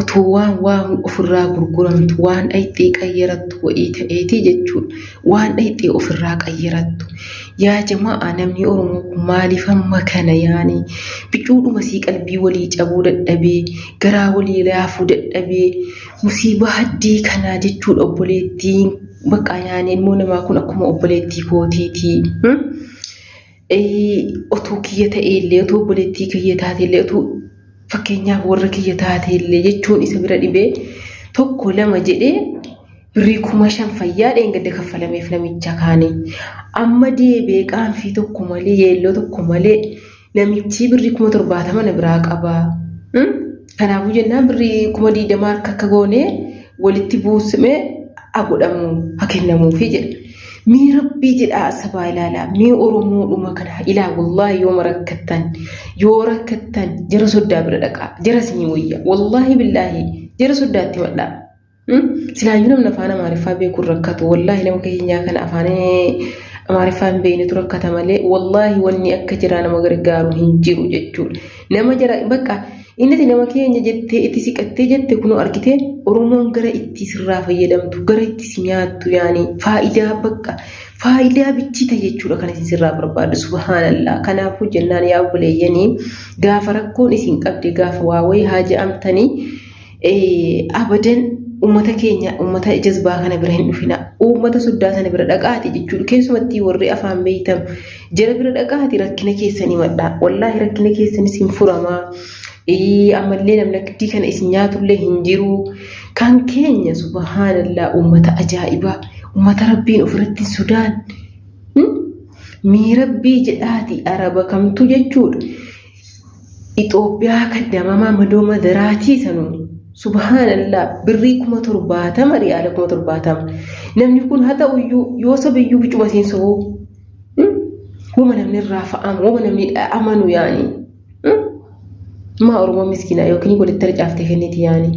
Otoo waan waamu ofirraa gurguramtu waan dhayxee qayyarattu wa'ii ta'eetii jechuudha. Waan dhayxee ofirraa qayyarattu. Yaa jama'aa namni Oromoo kun maaliif hamma kana yaani bicuudhuma sii qalbii walii cabuu dadhabee garaa walii laafuu dadhabee musiibaa haddii kanaa jechuudha obboleettiin baqqaa yaani ilmoo namaa kun akkuma obboleettii kootiitii. otuu kiyya ta'eellee otuu obboleettii kiyya taateellee otuu fakkeenyaaf warra kiyya taateellee jechuun isa bira dhibee tokko lama jedhee birrii kuma shan fayyaa dheengadda kaffalameef namicha kaanii amma deebee qaanfii tokko malee yeelloo tokko malee namichii birrii kuma torbaatama na biraa qabaa. Kanaafuu jennaan birrii kuma digdama harka akka goone walitti buusme ha godhamu ha kennamuufi jedha. Mee rabbii jedhaa asabaa ilaalaa mee oromoodhuma kana ilaa wallaahi yooma rakkattan yoo rakkattan jara soddaa bira dhaqaa jara isinii wayya wallaahi billaahi jara soddaatti madhaa. Silaayyuu namni afaan Amaariffaa beeku hin rakkatu. Wallaahi nama keenyaa kana afaan Amaariffaa hin beeknetu rakkata malee wallaahi wanni akka jiraa nama gargaaru hin jiru jechuudha. Nama jara bakka innati nama keenya jettee itti siqattee jette kunoo argitee Oromoon gara itti sirraa fayyadamtu gara itti si nyaattu yaani faayidaa bakka faayidaa bichita jechuudha kan isin sirraa barbaadu subhaanallah. Kanaafuu jennaan yaa obboleeyyanii gaafa rakkoon isin qabde gaafa waa wayii haa je'amtanii abadan ummata keenya ummata jazbaa kana bira hin dhufina ummata soddaa sana bira dhaqaati jechuudha keessumattii warri afaan beeytan jara bira dhaqaati rakkina keessanii madhaa wallaahi rakkina keessanis hin furamaa ammallee namnaktii kana isin nyaatullee hin jiruu kan keenya subhaanallaa ummata ajaa'ibaa ummata rabbiin ofirratti sodaan miirabbii jedhaati araba kamtu jechuudha Itoophiyaa kan damamaa madoo madaraatii sanuuni. Subhaanallah birrii kuma torbaatama riyaala kuma torbaatama. Namni kun haa ta'uyyuu yoo sobiyyuu bicuma isiin sobuu. Wama namni irraa fa'amu wama namni amanu yaani. Maa Oromoo miskiinaa yookiin walitti harcaaftee kenniti yaani.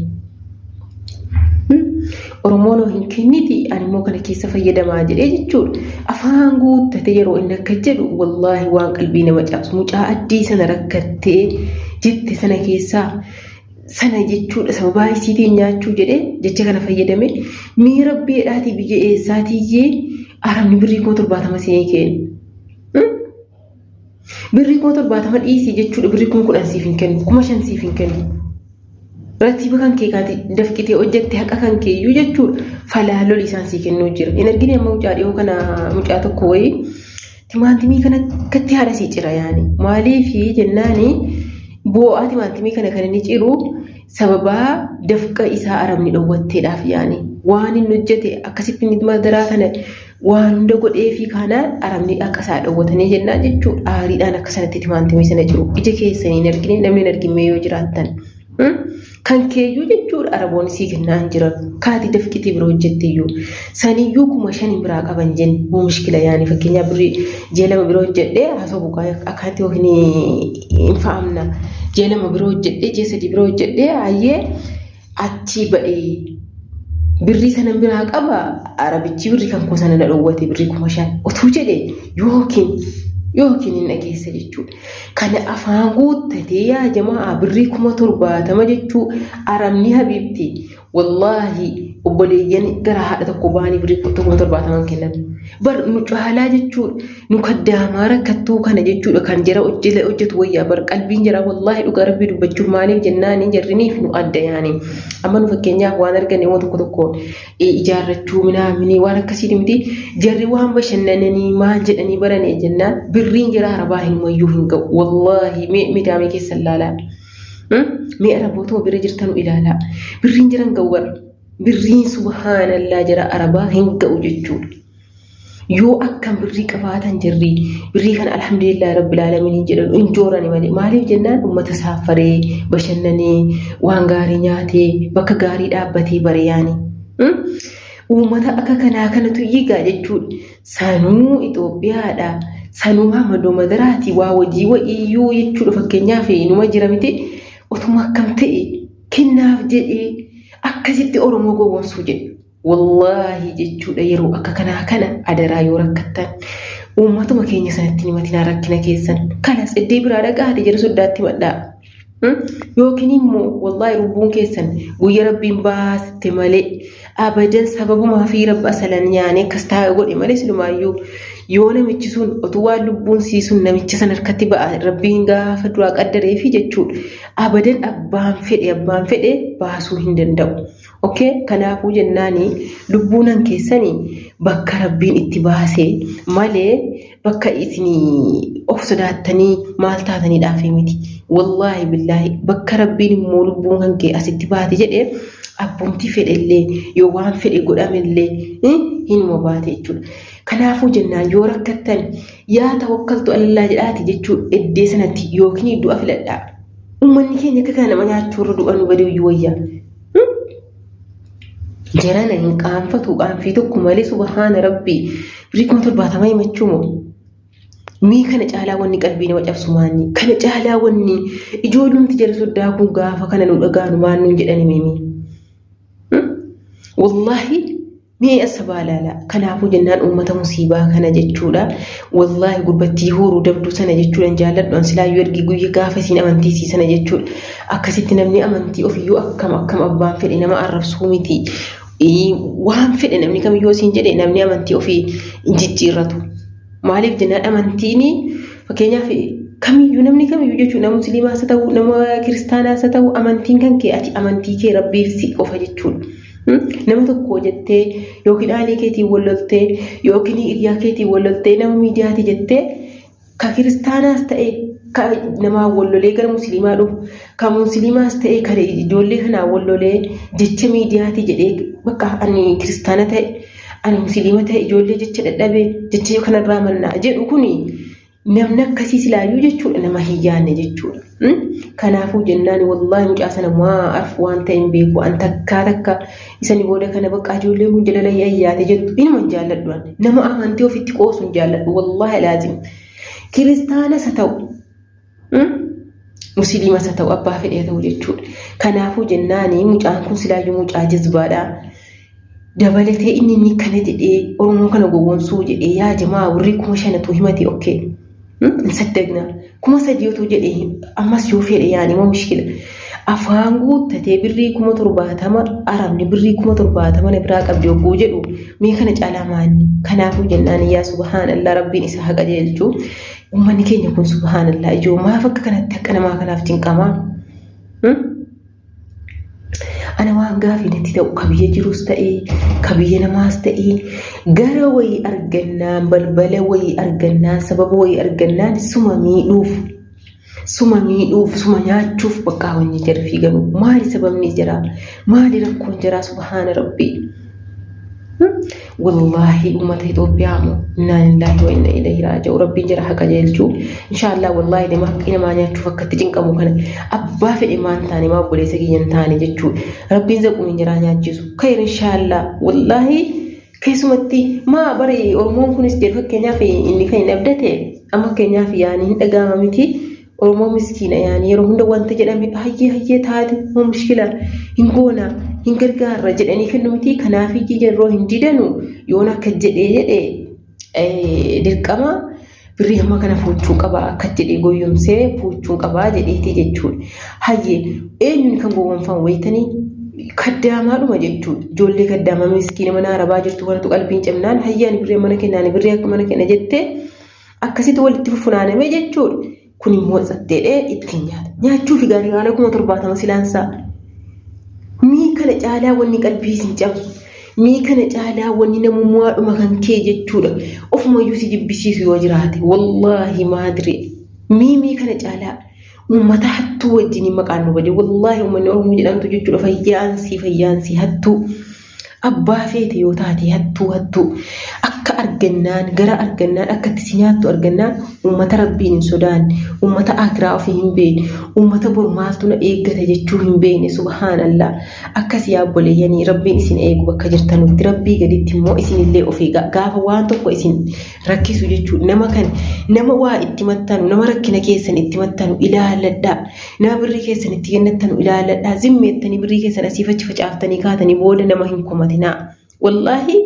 Oromoon hoo hin kenniti animmoo kana keessa fayyadamaa jedhee jechuudha. Afaan guuttatee yeroo inni akka jedhu wallaahi waan qalbii nama cabsu mucaa addii sana rakkattee jette sana keessaa sana jechuudha sababaa isiitiin nyaachuu jedhee jecha kana fayyadame mee rabbii jedhaatii biyya eessaatiyyee arabni birrii koo torbaatama seenee keenya. Birrii kuma torbaatama dhiisii jechuudha birrii kuma kudhan siif hin kennu kuma shan siif hin kennu. Ratiiba kan kee kaati dafqitee hojjette haqa kan kee iyyuu jechuudha falaa loli isaan sii kennuu jira. Hin argine amma mucaa dhiyoo kana mucaa tokko wayii timaantimii kana akkatti haadha sii cira yaani maaliifi jennaani boo'aa timaantimii kana kan inni ciru sababaa dafqa isaa arabni dhowwatteedhaaf yaani waan inni hojjete akkasitti madaraa kana waan hunda godheefii kaanaan arabni akka isaa dhowwatanii jennaan jechuu aariidhaan akka sanatti itti maantimee sana jiru ija keessanii hin argine namni hin argimee yoo jiraattan kan keeyyuu jechuudha araboonni sii kennaan jiran kaati dafqitii bira hojjettiyyuu saniyyuu kuma shaniin biraa qaban jenni moo mishkila yaani fakkeenyaa birri ji'a lama bira hojjedhee haasoo buqaa akkaatti yookiin hin fa'amna ji'a lama bira hojjedhee ji'a sadii bira hojjedhee ayyee achii ba'ee birrii sanan biraa qaba arabichi birrii kan koo sana na dhowwate birrii kuma shan utuu jedhe yookiin yookiin hin dhageessa jechuudha. Kana afaan guuttatee yaa jamaa birrii kuma torbaatama jechuu arabni habiibti wallaahi obboleeyyan gara haadha tokko ba'anii birrii kuma torbaataman kennan bar nu caalaa jechuudha. nu kaddaamaa rakkattuu kana jechuudha kan jara hojjile hojjetu wayyaa bar qalbiin jara wallaahi dhugaa rabbii dubbachuun maaliif jennaani jarriniif nu adda yaani amma nu fakkeenyaaf waan argane waan tokko tokkoon ijaarrachuu minaa minii waan akkasiiti miti jarri waan bashannananii maal jedhanii barane jennaan birriin jara arabaa hin wayyuu hin ga'u wallaahi mee midaamee keessa ilaalaa mee arabootuma bira jirtanu ilaalaa birriin jara hin ga'u bara birriin subhaanallaa jara arabaa hin ga'u jechuudha. yoo akkam birrii qabaatan jirri birrii kana alhamdulillah rabbil aalamiin jedhan hin joorani malee maaliif jennaan ummata saaffaree bashannanee waan gaarii nyaatee bakka gaarii dhaabbatee bare yaani. Uummata akka kanaa kanatu yigaa jechuudha. Sanuu Itoophiyaadha. Sanuu Mamadoo Madaraati waa wajii wa'iyyuu jechuudha fakkeenyaaf numa jira miti otuma akkam ta'e kennaaf jedhee akkasitti Oromoo gowwoomsuu jedhu. Wallaahi jechuudha yeroo akka kanaa kana adaraa yoo rakkattan uummatuma keenya sanatti hin himatinaa rakkina keessan kanas iddee biraa dhaqaa haati jedhu soddaatti madhaa. Hmm? Yookiin immoo wallaahi lubbuun keessan guyya rabbiin baasitte malee abadan sababumaa fi rabba asalan yaane akkas taa'e godhe malee silumaayyuu yoo namichi sun otuu waan lubbuun sii sun namicha san harkatti ba'a rabbiin gaafa duraa qaddaree fi jechuudha abadan abbaan fedhe abbaan fedhe baasuu hin danda'u. Ok kanaafuu jennaani lubbuunan keessani bakka rabbiin itti baase malee bakka isini of sodaattanii maal taataniidhaafii miti wallaahi billaahi bakka rabbiin immoo lubbuun kan kee asitti baate jedhe abbumti fedhe illee yoo waan fedhe godhame illee hinuma baate jechuudha kanaafuu jennaan yoo rakkattan yaa tawakkaltu alallaa jedhaati jechuu eddee sanatti yookiin du'a filadhaa ummanni keenya akka kana nama nyaachuurra du'a nu baduu iyyuu wayyaa jarana hin qaanfatu qaanfii tokko malee subhaana rabbii birrii kuma torbaatama himachuu moo mii kana caalaa wanni qalbii nama cabsu maanni kana caalaa wanni ijoollumti jara soddaa kun gaafa kana nu dhagaanu maannuun jedhani mimi wallahi Mee asabaa laala kanaafuu jennaan uummata musiibaa kana jechuudha wallaahi gurbattii huuruu dabduu sana jechuudhan jaalladhu an silaayyuu ergi guyya gaafa isiin amantii isii sana jechuudha akkasitti namni amantii ofiyyuu akkam akkam abbaan fedhe nama arrabsuu miti waan fedhe namni kamiyyuu isiin jedhe namni amantii ofii hin jijjiirratu maaliif jennaan amantiini fakkeenyaaf kamiyyuu namni kamiyyuu jechuudha nama musliimaas haa ta'u nama kiristaanaas haa ta'u amantiin kan kee ati amantii kee rabbiif si qofa jechuudha. Nama tokko jettee yookiin aalee keetiin wal loltee yookiin hiriyaa keetiin wal loltee nama miidiyaati jettee ka kiristaanaas ta'e ka namaa wal lolee gara musliimaa dhufu ka musliimaas ta'e ka ijoollee kanaa wal lolee jecha miidiyaati jedhee bakka ani kiristaana ta'e ani musliima ta'e ijoollee jecha dadhabee jecha kanarraa mannaa jedhu kuni Namni akkasii silaayyuu jechuudha nama hin yaanne jechuudha. Kanaafuu jennaan wallaahi mucaa sana maa arfu waan ta'e hin beeku an takkaa takka isani booda kana baqqaa ijoolleen kun jalala yaayyaate jettu inuma hin jaalladhu ani. Nama amantii ofitti qoosu hin jaalladhu wallaahi laazim. Kiristaanas haa ta'u musiliimas haa ta'u abbaa fedhee haa ta'u jechuudha. Kanaafuu jennaani mucaan kun silaayyuu mucaa jazbaadha. dabalatee inni inni kana jedhee oromoo kana gowwomsuu jedhee yaa jamaa warri kuma shanatu himate okkee hin saddagna kuma sadii otoo jedhe ammas yoo fedhe yaani moo mishkila afaan guuttatee birrii kuma torbaatama arabni birrii kuma torbaatama na biraa qabdi ogguu jedhu mee kana caalaa maanni kanaafuu jennaan yaa subhaanallaa rabbiin isa haqa jeelchu ummanni keenya kun subhaanallaa ijoo maaf akka kanatti akka namaa kanaaf cinqamaa Ana waan gaafiin itti ta'u ka biyya jirus ta'ee ka biyya namaas ta'ee gara wayii argannaan balbala wayii argannaan sababa wayii argannaan suma miidhuuf suma miidhuuf suma nyaachuuf baqqaa wanni jara fiiganu maali sababni jaraa maali rakkoon jaraa subhaana rabbii. wallaahi ummata Itoophiyaa moo innaa lillaahi wa inna ilayhi raaja'u rabbiin jira haqa jeelchuu inshaallah wallaahi nama haqqii namaa nyaachuuf akkatti cinqamu kana abbaa fedhe maan taane maa obboleessa kiyya hin taane jechuu rabbiin zaqumiin jiraa nyaachisu kayr inshaallah wallaahi keessumatti maa bari oromoon kunis jedhu fakkeenyaaf inni kan hin abdate amma fakkeenyaaf yaani hin dhaga'ama miti Oromoo miskiina yaani yeroo hunda wanti jedhame hayyee hayyee taate hoo mushkila hin goona hin gargaarra jedhanii kennu miti kanaaf ijji yeroo hin didanu yoon akka jedhee jedhe dirqama birrii hamma kana fuuchuu qaba akka jedhee goyyomsee fuuchuu qaba jedheeti jechuudha. Hayyee eenyuun kan gowwoomfan wayitanii kaddaamaadhuma jechuudha. Ijoollee kaddaamaa miskiina mana arabaa jirtu kanatu qalbiin cimnaan hayyaan birrii mana kennaan birrii akka mana kenna jettee. Akkasitti walitti fufunaanamee jechuudha. Kun immoo satteedhee ittiin nyaata. Nyaachuufi gaarii haala kuma torbaatama silaansaa. Mii kana caalaa wanni qalbii isin cabsu. Mii kana caalaa wanni namummaadhuma kan kee jechuudha. Ofumayyuu si jibbisiisu yoo jiraate. Wallaahi maadire. Mii mii kana caalaa. Uummata hattuu wajjin maqaan nu bade. Wallaahi uummanni Oromoo jedhamtu jechuudha. Fayyaansii fayyaansii hattuu. Abbaa feete yoo taate hattuu hattuu akka argannaan gara argannaan akka itti si nyaattu argannaan uummata rabbiin hin sodaanne uummata akiraa ofii hin beekne uummata bor maaltu na eeggata jechuu hin beekne subhaanallaa akkas yaa obboleeyyanii rabbiin isin eegu bakka jirtanutti rabbii gaditti immoo isinillee of eegaa gaafa waan tokko isin rakkisu jechuudha. Nama kan nama waa itti mattanu, nama rakkina keessan itti mattanu ilaaladhaa. Nama birrii keessan itti kennattanu ilaaladhaa. Zimmeettanii birrii keessan asiif achi facaaftanii kaatanii booda nama hin komatinaa. Wallaahi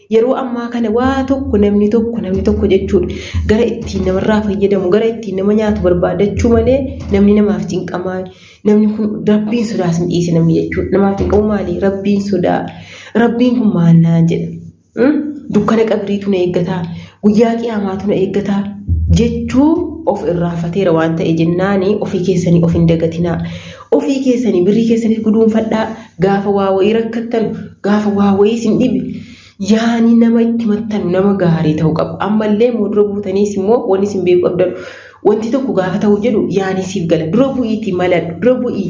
yeroo ammaa kana waa tokko namni tokko namni tokko jechuudha. Gara ittiin namarraa fayyadamu, gara ittiin nama nyaatu barbaadachuu malee namni namaaf cinqamaa. Namni kun rabbiin sodaas hin dhiise namni jechuudha. Namaaf cinqamu maali? Rabbiin sodaa. Rabbiin kun maal naan jedha? dukkana qabriitu na eeggataa guyyaa qiyaamaatu na eeggataa jechuu of irraafateera waan ta'e jennaani ofii keessanii of hin dagatinaa ofii keessanii birrii keessanii guduunfadhaa gaafa waa wayii rakkattan gaafa waa wayii sin dhibe yaanii nama itti mattanu nama gaarii ta'uu qaba ammallee moo dura buutaniis immoo wanni sin beeku qabdan wanti tokko gaafa ta'u jedhu yaanii siif gala dura bu'iitii maladhu dura bu'ii